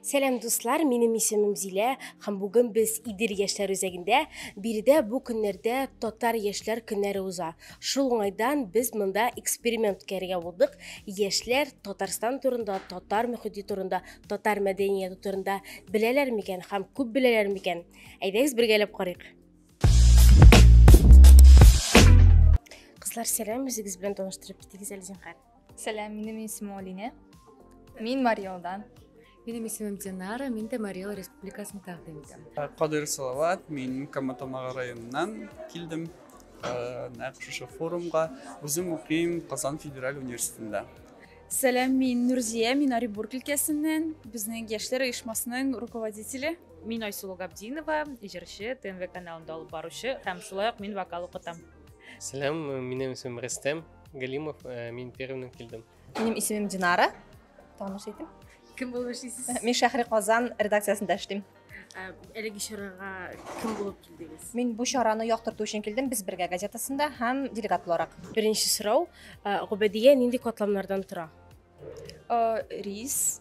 Сәлам дуслар, минем исемем Зилә һәм бүген без Идел яшьләр үзәгендә. Биредә бу көннәрдә татар яшьләр көннәре уза. Шул уңайдан без монда эксперимент үткәрергә булдык. Яшьләр Татарстан турында, татар мөхите турында, татар мәдәнияты турында беләләр микән һәм күп беләләр микән? Әйдәгез бергәләп карыйк. Кызлар, сәлам, үзегез белән таныштырып китегез әле зинһар. Сәлам, минем исемем Алинә. Мин Мариалдан. Минем исемем Динара, мин дә Мариал Республикасының тәкъдим итәм. Э, Кадыр Салават, мин Каматамага районыннан килдем. Э, нәкъ шушы форумга үзем укыйм Казан федераль университетында. Сәлам, мин Нурзия, мин Оренбург өлкәсеннән, безнең яшьләр оешмасының руководителе. Мин Айсулу Габдинова, җырчы, ТНВ каналында алып баручы һәм шулай ук мин вокал укытам. Сәлам, минем исемем Рәстәм, Галимов, э, мин Пермьнен килдем. Минем исемем Динара. Таныш итеп. Кем булып эшлисез? Мин Шәһри Казан редакциясендә эшлим. Э, әлеге чарага кем булып килдегез? Мин бу чараны яктырту өчен килдем. Без бергә газетасында һәм делегат буларак. Беренче сорау, э, Губәдия нинди катламнардан тора? Э, рис,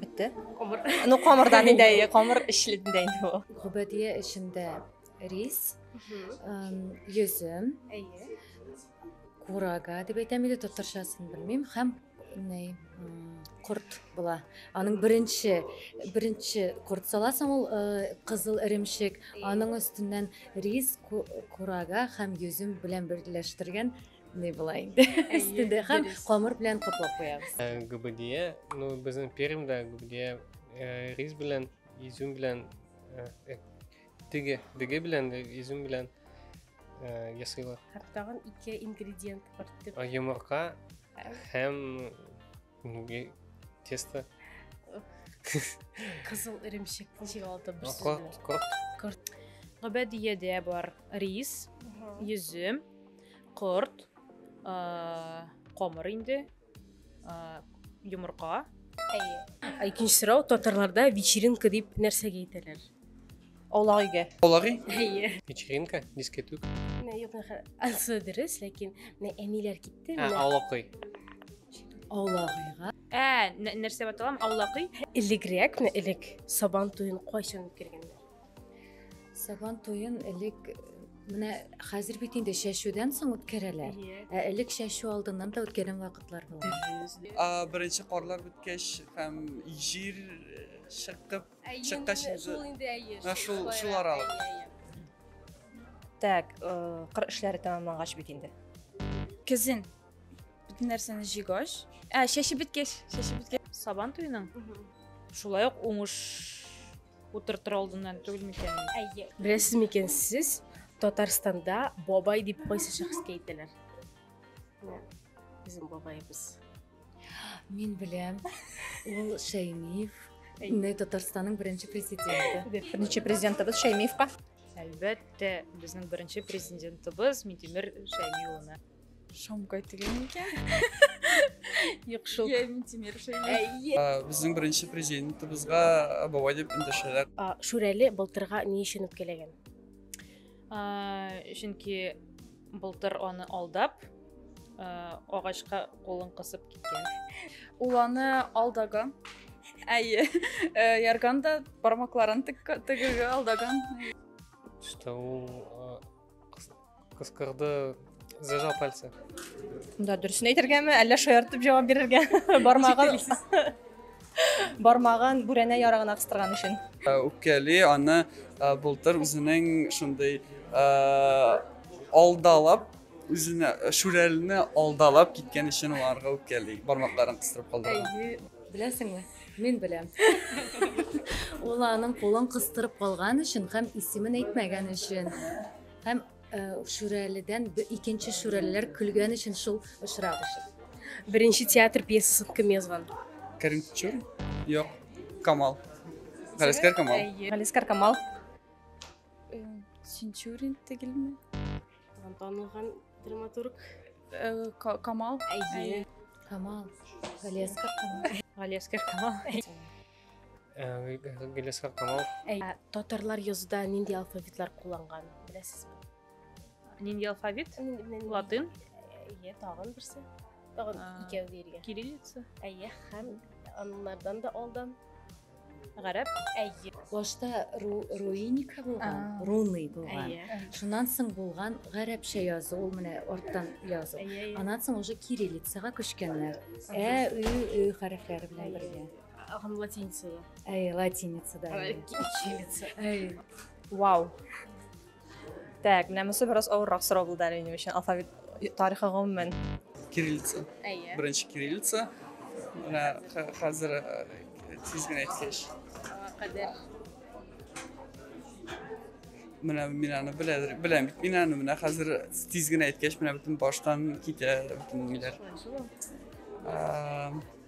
бетте камыр ну камырдан инде әйе камыр эчледендә инде ул гөбәдия эчендә рис йөзем әйе курага дип әйтәм иде татарчасын белмим һәм корт була аның беренче беренче корт саласың ул э, кызыл эремчек аның өстеннән рис курага һәм йөзем белән берләштергән не былай өстендә һәм камыр белән каплап куябыз э, гүбедия ну безнең пермьда гүбедия э, рис белән изюм белән э, теге деге белән изюм белән ясыйлар тагын ике ингредиент бар йомырка һәм Неге тесто? Кызыл эремчек тишек алды бер сүз белән. Корт, корт. Гөбәдиядә бар рис, йөзем, корт, камыр инде, йомырка. Әйе. Икенче сорау татарларда вечеринка дип нәрсәгә әйтәләр? Аулагыйгә. Аулагый? Әйе. Вечеринка, дискетук. Менә юк, ансы дөрес, ләкин менә әниләр китте. Ә, аулагый. Аулагыйга. Ә, нәрсә баталам? Аулагый? Элегрәк, менә элек Сабан туен кайчан үткәргәннәр? Сабан туен элек Менә хәзер бит инде чәчүдән соң үткәрәләр. Ә элек чәчү алдыннан да үткәргән вакытлар була. Беренче карлар беткәч һәм җир чыгып Чыкта син шул инде әйе. Шул шул аралык. Так, э, кыр эшләре тәмамлангач бит инде. Кизен. Бүтән нәрсәне җигач, ә чәче биткәч, чәче биткәч. Сабан туеның. Шулай ук уңыш утыртыр алдыннан түгел микән? Әйе. Беләсез микән сез, Татарстанда бабай дип кайсы шәхескә әйтәләр? Безнең бабаебыз. Мин беләм. Ул Шәймиев. Инде Татарстанның беренче президенты. Беренче президентыбыз Шәймиевка. Әлбәттә, безнең беренче президентыбыз Митимер Шәймиев улына. Шамгай дигән икән. Юк шул. Я Митимер Шәймиев. Ә, Безнең беренче президентыбызга бабай дип эндәшәләр. Шүрәле былтырга ни өчен үпкәләгән? чөнки былтыр аны алдап агачка кулын кысып киткән ул аны алдагы әйе ярганда бармакларын тегеге алдаган что ул кыскырды Зажал пальцы. Да, дөресен әйтергәме, әллә шаяртып җавап бирергә? Бармагын бармагын бүрәнә ярыгына кыстырган өчен. Э, үпкәли аны э, былтыр үзенең шундый э, алдалап үзенә шүрәлне алдалап киткән өчен аларга үпкәли бармакларын кыстырып калдырган. Беләсеңме? Мин беләм. Ул аның кулын кыстырып калган өчен һәм исемен әйтмәгән өчен һәм Шүрәледән икенче шүрәлеләр көлгән өчен шул очрак өчен. Беренче театр пьесасын кем язган? Кәрим Тичур? Юк. Камал. Галискар Камал. Галискар Камал. Синчурин түгелме? Танылган драматург. Камал. Камал. Галискар Камал. Галискар Камал. Гелескар Камал. Татарлар язуда нинди алфавитлар кулланган, беләсезме? Нинди алфавит? Латын. Әйе, тагын берсе. Тагын икәү биргән. Кириллица. Әйе, һәм аннардан да алдан гарәп әйе башта руиника булган руный булган шуннан соң булган гарәпчә язу ул менә арттан язу аннан соң уже кириллицага күчкәннәр ә ө ө хәрефләре белән бергә Һәм латиница да. Әй, латиница да. Кириллица. Әй. Вау. Так, менә монысы бераз авыррак сорау булды әле минем өчен. Алфавит тарихы гомумән. Кириллица. Әйе. Беренче кириллица. Менә хәзер тиз генә әйткәч. Кадәр. Менә мин аны беләдер, беләм бит. Мин аны менә хәзер тиз генә әйткәч, менә бөтен баштан китә бөтен ниләр.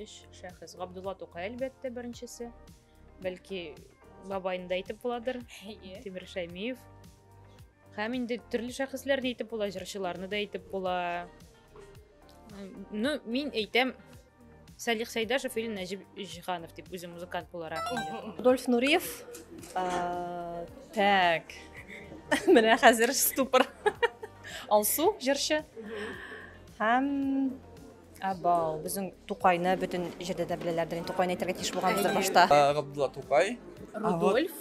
Өч шәхес. Габдулла Тукай, әлбәттә, беренчесе. Бәлки, бабайында әйтеп буладыр. Тимир Шәймиев. Һәм инде төрле шәхесләрне әйтеп була, җырчыларны да әйтеп була. Ну, мин әйтәм, Салих Сайдашев или Нәҗип Җиханов дип үзе музыкант буларак. Рудольф Нуриев. Так. Менә хәзер ступор. Алсу җырчы. Һәм Абау, безнең Тукайны бөтен җирдә дә беләләрдер. Инде Тукайны әйтергә тиеш булганбыздыр башта. Ә, Габдулла Тукай. Рудольф.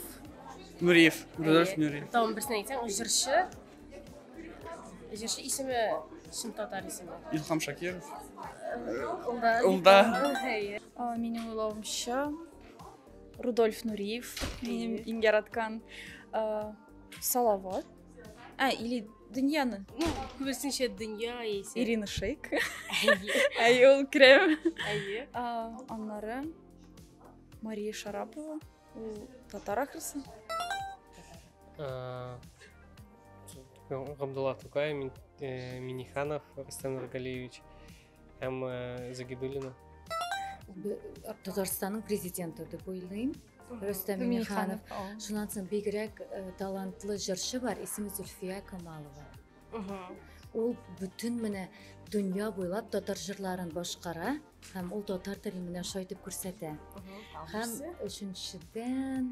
Нуриев. Рудольф Нуриев. Там берсен әйтсәң, җырчы. Җырчы исеме чын татар исеме. Илхам Шакиров. Улда. Улда. Әйе. А, Минем уйлавымча Рудольф Нуриев, минем иң яраткан а, Салават. А, или дөньяны. Ну, күбесенчә дөнья яисә. Ирина Шейк. Әйе, ул керәм. Әйе. Аннары Мария Шарапова. Ул татар ахрысы. Габдулла Тукай, Миниханов, Рустам Нургалиевич. Һәм э, Загидуллина. Татарстанның президенты дип уйлыйм. Рөстәм Миңнеханов. Шуннан соң бигрәк э, талантлы җырчы бар, исеме Зульфия Камалова. Ул бүтін менә дөнья буйлап татар жырларын башкара һәм ул татар телен менә шайтып күрсәтә. Һәм өченчедән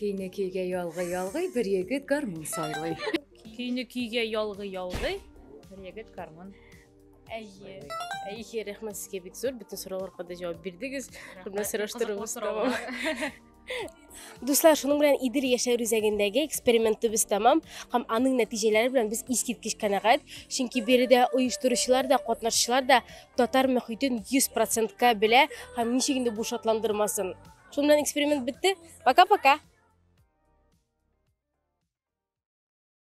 Көйне көйгә ялгый ялгый бер егет гармун сайлый. Көйне көйгә ялгый ялгый бер егет гармун. Әйе. Әйе, рәхмәт сезгә бик зур. Бөтен сорауларга да җавап бирдегез. Күпме сораштырыгыз тәмам. Дуслар, шуның белән Идел яшәү үзәгендәге экспериментыбыз тәмам һәм аның нәтиҗәләре белән без искиткеч канәгать, чөнки биредә оештыручылар да, катнашучылар да татар мөхитен 100%-ка белә һәм ничек инде бу шатландырмасын. Шуның белән эксперимент бетте. Пока-пока.